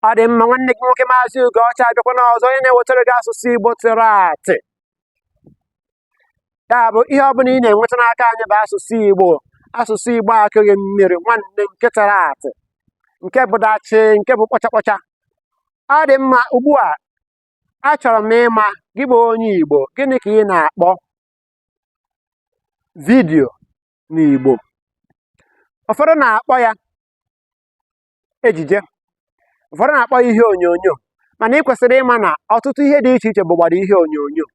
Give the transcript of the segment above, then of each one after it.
ọ dị mma nwanne gị nwoke maazị Ugocha abịakwana ọzọ onye na-ewetara gị asụsụ Igbo tara atị ya bụ ihe ọ bụla ị na-enweta n'aka anyị bụ asụsụ Igbo asụsụ Igbo akụghị mmiri nwanne nke tara atị nke bụ dachị nke bụ kpọcha kpọcha ọ dị mma ugbu a achọrọ m ịma gị bụ onye Igbo gịnị ka ị na-akpọ vidiyo n'Igbo ụfọdụ na-akpọ ya ejije ụfọdụ na-akpọ ya ihe onyonyo mana ị kwesịrị ịma na ọtụtụ ihe dị iche iche bụgbado ihe onyonyo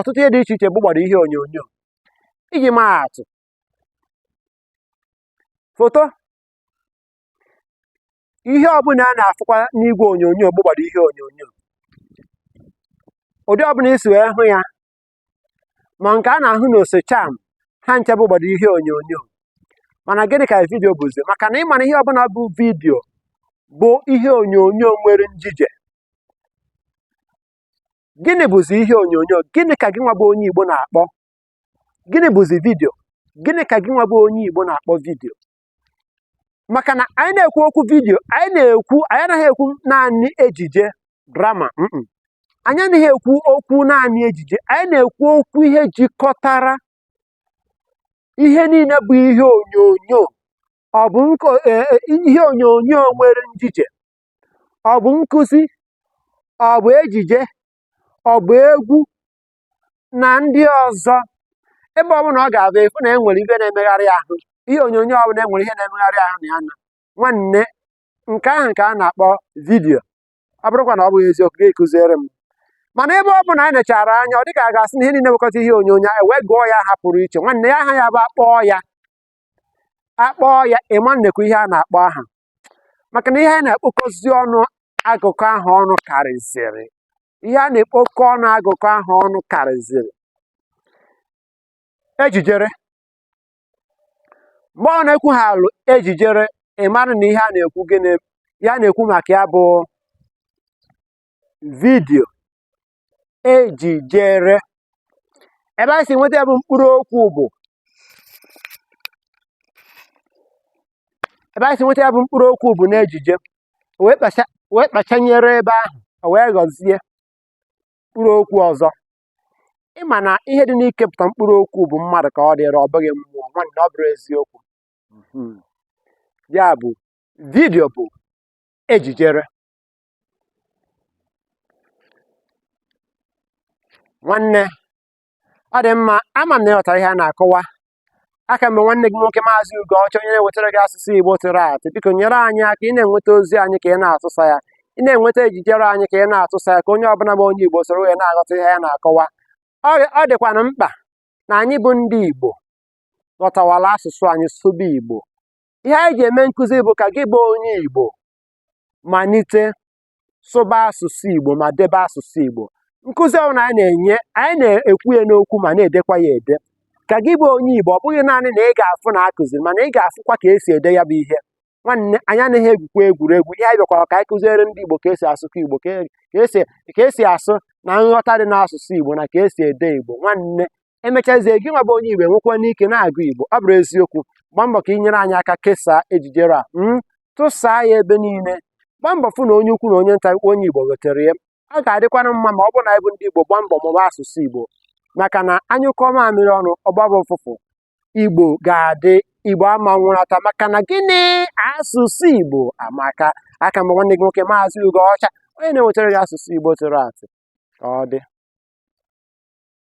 ọtụtụ ihe dị iche iche bụgbado ihe onyonyo iji maa atụ foto ihe ọbụla a na-afụkwa n'igwe onyonyo bụgbado ihe onyonyo ụdị ọbụla i si wee hụ ya ma nke a na-ahụ n'osecham ha ncha bụgbado ihe onyonyo mana gịnị ka vidio bụzi maka na ị ma na ihe ọbụla bụ vidio bụ ihe onyonyo nwere njije gịnị bụzi ihe onyonyo gịnị ka gị nwa bụ onye igbo na-akpọ gịnị bụzi vidio gịnị ka gị nwa bụ onye igbo na-akpọ vidio maka na anyị na-ekwu okwu vidiyo anyị na-ekwu anyị anaghị ekwu naanị ejije drama anyị anaghị ekwu okwu naanị ejije anyị na-ekwu okwu ihe jikọtara ihe niile bụ ihe onyonyo ọ bụ e, e, ihe onyonyo nwere njije ọ bụ nkụzi ọ bụ ejije ọ bụ egwu na ndị ọzọ ebe ọ bụla ọ ga-abụ ị fụ na enwere ihe na-emegharị ahụ ihe onyonyo ọ bụla enwere ihe na-emegharị ahụ na ya na nwanne nke ahụ nke a na-akpọ vidiyo ọ bụrụkwa na ọ bụghị eziokwu gị kụziere m mana ebe ọ bụla anyị nechara anya ọ dịka a ga-asị na ihe niile wekọta ihe onyonyo anyị wee gụọ ya aha pụrụ iche nwanne ya aha ya bụ akpọọ ya ịma nnekwu ihe a na-akpọ aha maka na ihe a na-ekpokọzi ọnụ agụkọ aha ọnụ karịziri ihe a na-ekpokọ ọnụ agụkọ aha ọnụ karịziri ejijere mgbe ọ na-ekwu ha alụ ejijere ị mara na ihe a na-ekwu ihe a na-ekwu maka ya bụ vidio ejijere ebe anyị ebe anyị si nweta ya bụ mkpụrụ okwu bụ na ejije wee kpachanye re ebe ahụ o wee ghọzie mkpụrụ okwu ọzọ ị ma na ihe dị n'ikepụta mkpụrụ okwu bụ mmadụ ka ọ dịịrị ọ bụghị mmụọ nwanne ọ bụrụ eziokwu ya bụ vidio bụ ejijere nwanne ọ dị mma ama m na ị ghọtara ihe a na-akọwa aka m bụ nwanne gị nwoke maazị ugo ọcha onye na-ewetara gị asụsụ igbo tụrụ atụ biko nyere anyị aka ị na-enweta ozi anyị ka ị na-atụsa ya ị na-enweta ejijere anyị ka ị na-atụsa ya ka onye ọbụla bụ onye igbo soro wee na-aghọta ihe a na-akọwa ọ dịkwanụ mkpa na anyị bụ ndị igbo ghọtawala asụsụ anyị sụba igbo ihe anyị ji eme nkụzi bụ ka gị bụ onye igbo malite sụba asụsụ Igbo ma debe asụsụ Igbo nkụzi ọbụla anyị na-enye anyị na-ekwu ya n'okwu ma na-edekwa ya ede ka gị bụ onye Igbo ọ bụghị naanị na ị ga-afụ na a kụziri mana ị ga-afụkwa ka esi ede ya bụ ihe nwanne anyị anaghị egwukwa egwuregwu ihe anyị bịakwara ka anyị kụziere ndị Igbo ka esi asụkwa Igbo ka esi asụ na nghọta dị n'asụsụ Igbo na ka esi ede Igbo nwanne e mechazie gị nwa bụ onye igbo nwekwanụ ike na-agụ igbo ọ bụrụ eziokwu gbaa mbọ ka ị nyere anyị aka kesaa ejijere a hmm? tụsaa ya ebe niile gbaa mbọ fụ na onye ukwu na onye nta onye igbo ghọtara ya ọ ga-adịkwanụ mma ma ọ bụrụ na anyị bụ ndị igbo gbaa mbọ mụba asụsụ igbo maka na a nyụkọọ mamịrị ọnụ ọ gbaba ụfụfụ igbo ga-adị igbo ama nwụrata maka na gịnị asụsụ igbo amaka aka m bụ nwanne gị nwoke maazị ugo ọcha onye na-ewetara gị asụsụ igbo tụrụ atụ ka ọ dị